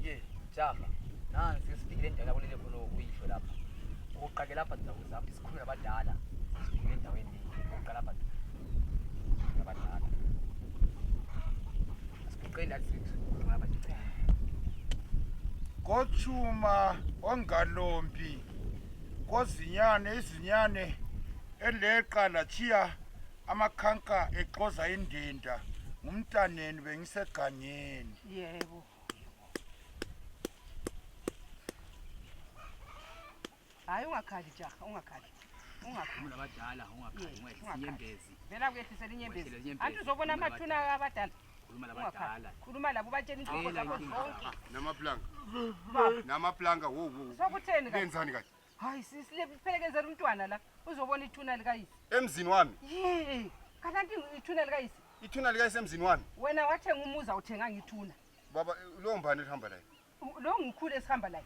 Ye, jama. Nansi sifikile endaweni yakulele khona uyisho lapha. Uqake lapha ndawo zami sikhuluma nabadala. Sifikile endaweni le. Uqala lapha. Nabadala. Siqela sithu. Kochuma ongalombi kozinyane izinyane eleqa lachiya amakhanka exoza indinda ngumntaneni bengisegangeni yebo hayi ungakhali jaha ungakhali ungakhali abadala ungakhali ungayisinyembezi vela kuyehlisela inyembezi anti uzobona amathuna abadala khuluma labadala khuluma labo batshela inhloko zabo zonke namaplanga namaplanga wo wo sokutheni kanje benzani kanje hayi sisi liphelekezela umntwana la uzobona ithuna likayise emzini wami ye kananti ithuna likayise ithuna likayise emzini wami wena wathenga umuza uthenganga ithuna baba lowo mbani elihamba layo lo ngikhulu esihamba layo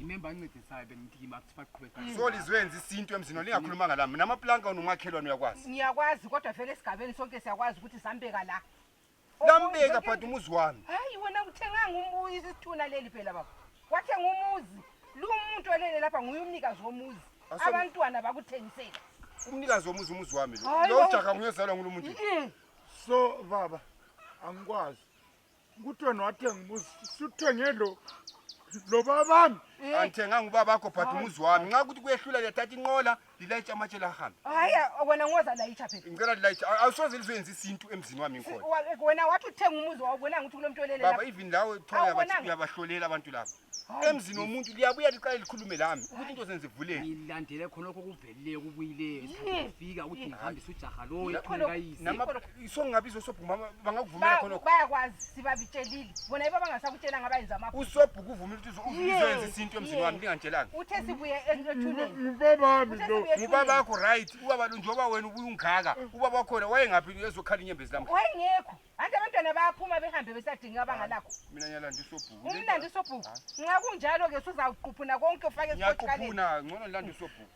imemba ancedisayo bendimthima kuthi baqhubeka mm. so lizwenza isintu emzini lingakhulumanga lami namaplanka unomakhelwane uyakwazi ngiyakwazi kodwa vele esigabeni sonke siyakwazi ukuthi sambeka la lambeka but umuzi wami hayi wena uthenganga umuzi isithuna leli phela baba wathenga umuzi lu muntu olele lapha nguye umnikazi womuzi abantwana bakuthengisela umnikazi womuzi umuzi wami lo lo ujaka nguyozalwa ngulo muntu so baba angikwazi kuthiwa nowathenga umuzi suthenge lo lo babami angithenganga ubaba wakho but umuzi wami nxa ukuthi kuyehlula liyathatha inqola lilayitsha amatshe lahambe hayi wena ngoza layitsha phela ngicela lilayitsha awusoze lizoyenza isintu emzini wami ngikhona wena wathi uthenga umuzi wawubonanga ukuthi kulo mntu olele baba even lawe thoya bathi uyabahlolela abantu laba emzini womuntu liyabuya liqale likhulume lami ukuthi into zenze vuleke ngilandele khonokho kuvelileyo kubuyileyo isikhathi sifika ukuthi ngihambise ujaha loyo isongabi izosobhuma bangakuvumela khonokho bayakwazi sibabitshelile bona iba bangasakutshela ngabayenza amapho usobhuka uvumile ukuthi uzoyenza isintu emzini wami ndingantshelanga uthe sibuye engubaba wakho right ubaba lo njengoba wena ubuye ungaka ubaba wakhona wayengaphi ezokhala inyembezi lam wayengekho anti abantwana bayaphuma behambe besadinga abangalakho mina nyalanda isobhuku umlanda isobhuku nxa kunjalo ke suzawuquphuna konke ufake esiqhuphuna ngcono ndilanda isobhuku